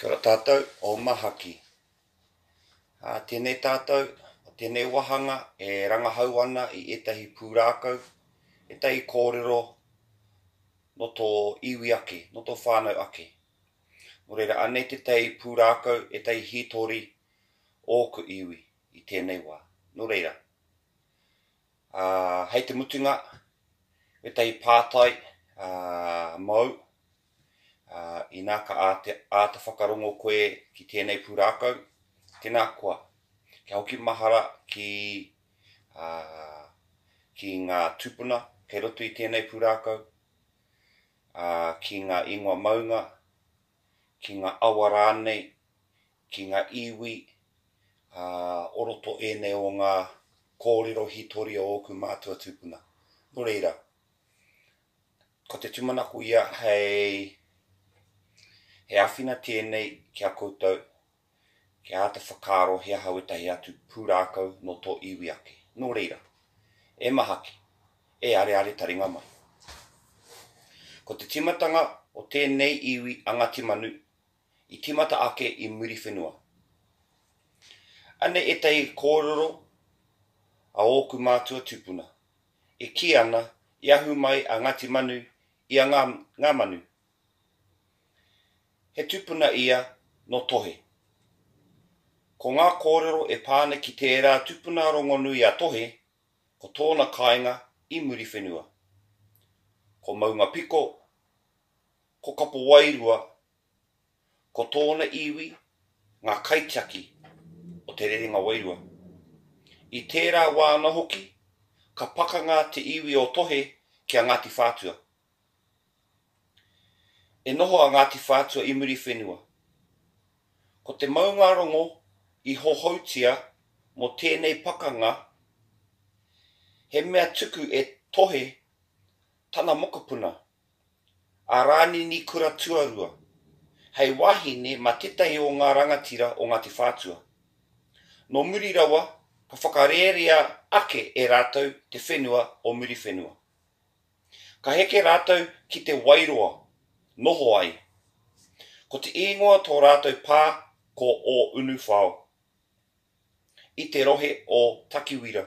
Kia ora tātou, o Mahaki. Ā, tēnei tātou, o tēnei wāhanga e rangahau ana i ētahi pūrākau, ētahi kōrero no tō iwi ake, no tō whānau ake. Nō reira, anei tētahi pūrākau, ētahi hītori o ōku iwi i tēnei wā. Nō reira, ā, hei te mutunga, ētahi pātai, ā, mōu, Ā, inā ka āta whakarongo koe ki tēnei pūrākau, tēnā koa, kia hoki mahara ki, ā, ki ngā tūpuna kei roto i tēnei pūrākau, ā, ki ngā ingoa maunga, ki ngā awa rānei, ki ngā iwi, ā, o roto ēnei o ngā kōrero hītori o ōku mātua tūpuna. Nō reira, Ko te tūmanako ia hei he āwhina tēnei ki a koutou kia āta whakaaro he aha wētahi atu pūrākau nō tō iwi ake. Nō reira, e mahaki, e areare taringa mai. Ko te tīmatanga o tēnei iwi a Ngāti Manu i tīmata ake i Muriwhenua. Anei ētahi kōrero a ōku mātua tūpuna. e kī ana, i ahu mai a Ngāti Manu i a Ngā, Ngā Manu. He tupuna ia nō Tohe. Ko ngā kōrero e pā ana ki tērā tupuna rongonui a Tohe, ko tōna kāinga i Muriwhenua. Ko Maungapiko, ko Kapowairua Ko tōna iwi ngā kaitiaki o Te Rerenga Wairua. I tērā wā ana hoki, ka pakanga te iwi o Tohe ki a Ngāti Whātua. E noho a Ngāti Whātua i Muriwhenua. Ko te maungārongo i hohoutia mō tēnei pakanga, he mea tuku e Tohe tana mokopuna, a Rānini Kura Tuarua, hei wahine mā tētahi o ngā rangatira o Ngāti Whātua. Nō muri rawa, ka whakarērea ake e rātou te whenua o Muriwhenua. Ka heke rātou ki Te Wairoa, noho ai. Ko te īngoa tō rātou pā ko Ōunuwhao. i te rohe o Takiwira.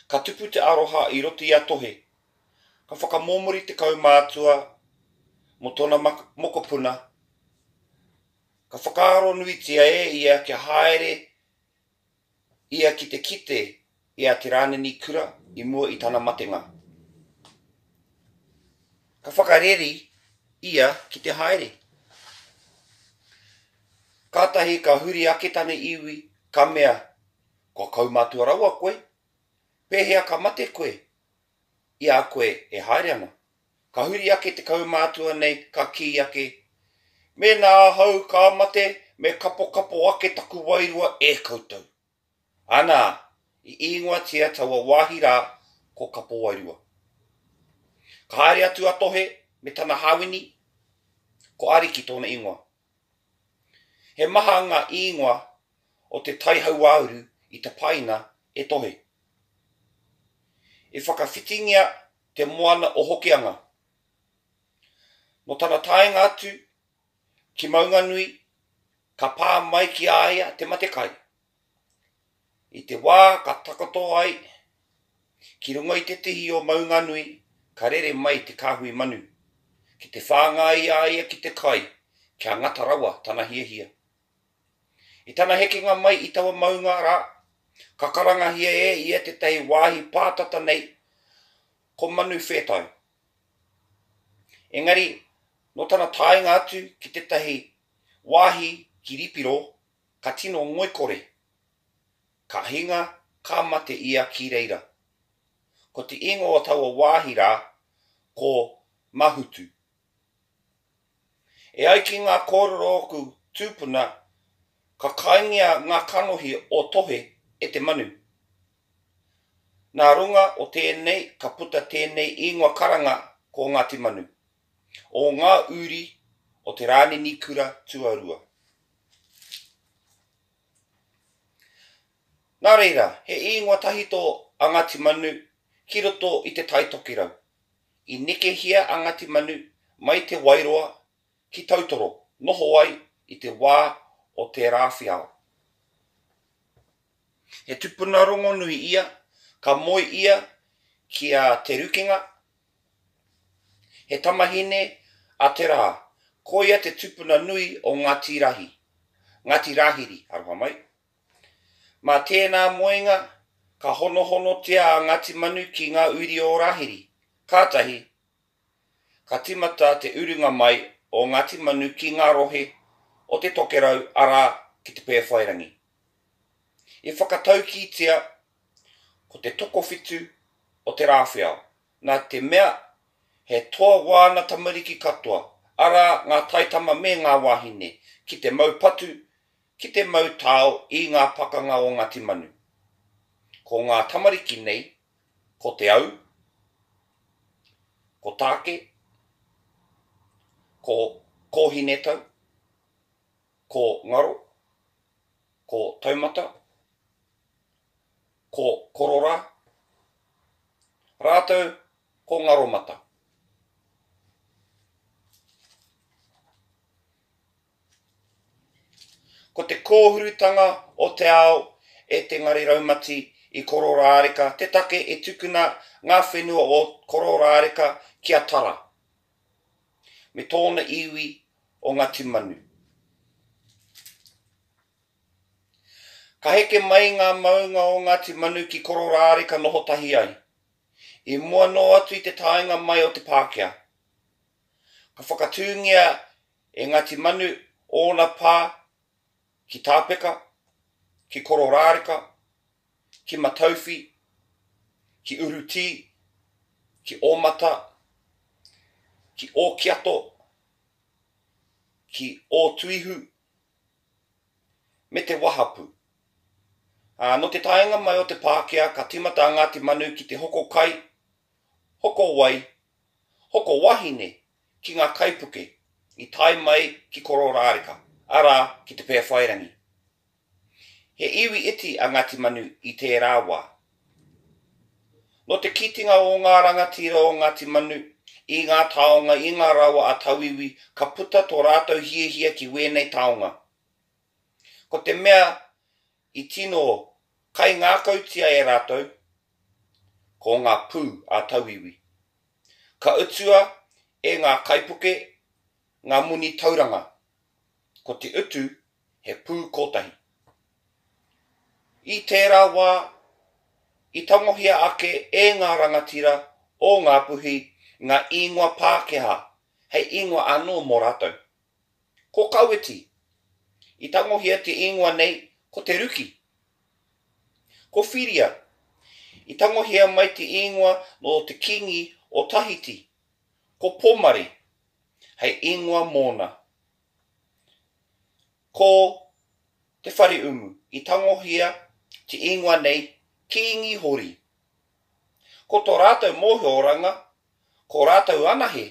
Ka tupu te aroha i roto i a Tohe, ka whakamomori te kaumātua mō tōna mokopuna, ka whakaaronuitia e ia kia haere ia ki te kite I a Te Rānini Kura i mua i tana matenga. Ka whakareri ia ki te haere. Kātahi ka huri ake tana iwi, ka mea, Kua kaumātua rawa koe? Pēhea ka mate koe i a koe e haere ana? Ka huri ake te kaumātua nei, ka kī ake, Mēnā ahau ka mate, me kapokapo ake taku wairua e koutou. Anā, i īngoatia taua wāhi rā ko Kapowairua. Ka haere atu a Tohe me tana hāwini, ko Ariki tōna īngoa. He maha ngā īngoa o te tai hauāuru i tapaina e Tohe. I whakawhitingia te moana o Hokianga. Nō tana taenga atu Ki Maunganui, ka pā mai ki a ia te mate kai. I te wā ka takoto ai ki runga i te tihi o Maunganui ka rere mai te kāhui manu, ki te whāngai a ia ki te kai kia ngata rawa tana hiahia. I tana hekenga mai i taua maunga rā, ka karangahia e ia tētahi wāhi pātata nei ko Manu Whētau. Engari, nō tana taenga atu ki tētahi wāhi kiripiro ka tino ngoikore. Ka hinga, ka mate ia ki reira. Ko te ingoa o taua wāhi rā, ko Mahutu. E ai ki ngā kōrero o ōku tūpuna, ka kaingia ngā kanohi o Tohe e te manu. Nā runga o tēnei ka puta tēnei īngoa karanga ko Ngāti Manu, o ngā uri o Te Rānini Kura Tuarua. Nā reira, he īngoa tahito a Ngāti Manu ki roto i te Tai Tokerau. I nekehia a Ngāti Manu mai Te Wairoa ki Tautoro noho ai i te wā o Te Rāwhiao. He tupuna rongonui ia, ka moe ia ki a Te Rukinga, he tamahine a Te Rā. Koia te tupuna nui o Ngati Rahi, Ngati Rahiri, aroha mai. Mā tēnā moenga ka honohonotia a Ngati Manu ki ngā uri o Rahiri, kātahi Ka tīmata te urunga mai o Ngāti Manu ki ngā rohe o te Tokerau arā ki te Pēwhairangi. I whakataukītia ko te tokowhitu o Te Rāwheao, nā te mea he toa wāna tamariki katoa, arā ngā taitama me ngā wāhine, ki te mau patu, ki te mau tao i ngā pakanga o Ngāti Manu. Ko ngā tamariki nei Ko te au, ko tāke, ko kōhinetau, ko ngaro, ko taumata, ko kororā, rātou ko ngaromata. Ko te kōhurutanga o te ao e te ngare raumati i Kororāreka te take e tukuna ngā whenua o Kororāreka ki a Tara me tōna iwi o Ngāti Manu. Ka heke mai ngā maunga o Ngāti Manu ki Kororāreka noho tahi ai. I mua noa atu i te taenga mai o te Pākehā, ka whakatūngia E Ngāti Manu, ōna pā ki Tāpeka, ki Kororāreka, ki Matauwhi, ki Urutī, ki Ōmata, ki Ōkiato, ki Ōtuihu, me te wahapū. Ā, nō te taenga mai o te Pākehā ka tīmata a Ngāti Manu ki te hoko kai, hoko wai, hoko wahine ki ngā kaipuke i tae mai ki Kororāreka, arā, ki Te Pēwhairangi. He iwi iti a Ngāti Manu i tērā wā. Nō te kītinga o ngā rangatira o Ngāti Manu i ngā taonga, i ngā rawa a tauiwi, ka puta tō rātou hiahia ki wēnei taonga. Ko te mea I tino kaingākautia e rātou ko ngā pū a tauiwi. Ka utua e ngā kaipuke ngā moni tauranga, ko te utu he pū kōtahi. I tērā wā, i tangohia ake e ngā rangatira o Ngāpuhi ngā īngoa Pākehā hei īngoa anō mō rātou. Ko Kawiti, i tangohia te ingoa nei ko Te Ruki. Ko Whiria, i tangohia mai te ingoa nō te kīngi o Tahiti, ko Pomare, hei ingoa mōna. Ko Te Whareumu, i tangohia te ingoa nei Kīngi Hori. Ko tō rātou mōhioranga, ko rātou anahe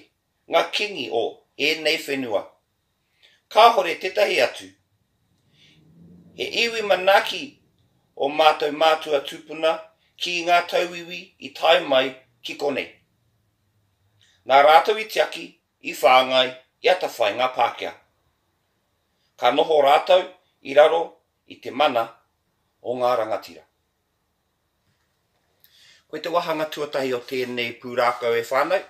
ngā kīngi o ēnei whenua. Kāhore tētahi atu. He iwi manaaki ō mātou mātua tūpuna ki ngā tauiwi i tae mai ki konei. Nā rātou i tiaki, i whāngai, i atawhai ngā Pākehā. Ka noho rātou i raro i te mana o ngā rangatira. Ko te wāhanga tuatahi o tēnei pūrākau e whānau,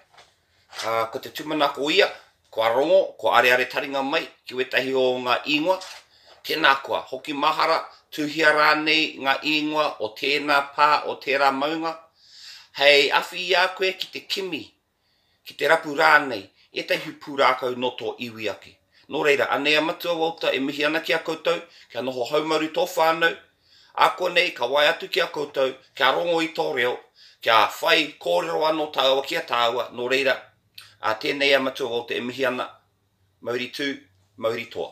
ā, ko te tūmanako ia, kua rongo, kua areare taringa mai ki wētahi o ngā īngoa, tēnā koa, hoki mahara, tuhia rānei ngā īngoa o tēnā pā, o tērā maunga, hei awhi i a koe ki te kimi ki te rapu rānei, ētahi hui pūrākau nō tō iwi ake. Nō reira, anei a Matua Walter e mihi ana ki a koutou, kia noho haumaru tō whānau, ā konei ka waea atu ki a koutou, kia rongo i tō reo, kia whai kōrero anō tāua ki a tāua, nō reira, ā, tēnei a Matua Walter e mihi ana, mauri tū, mauri toa.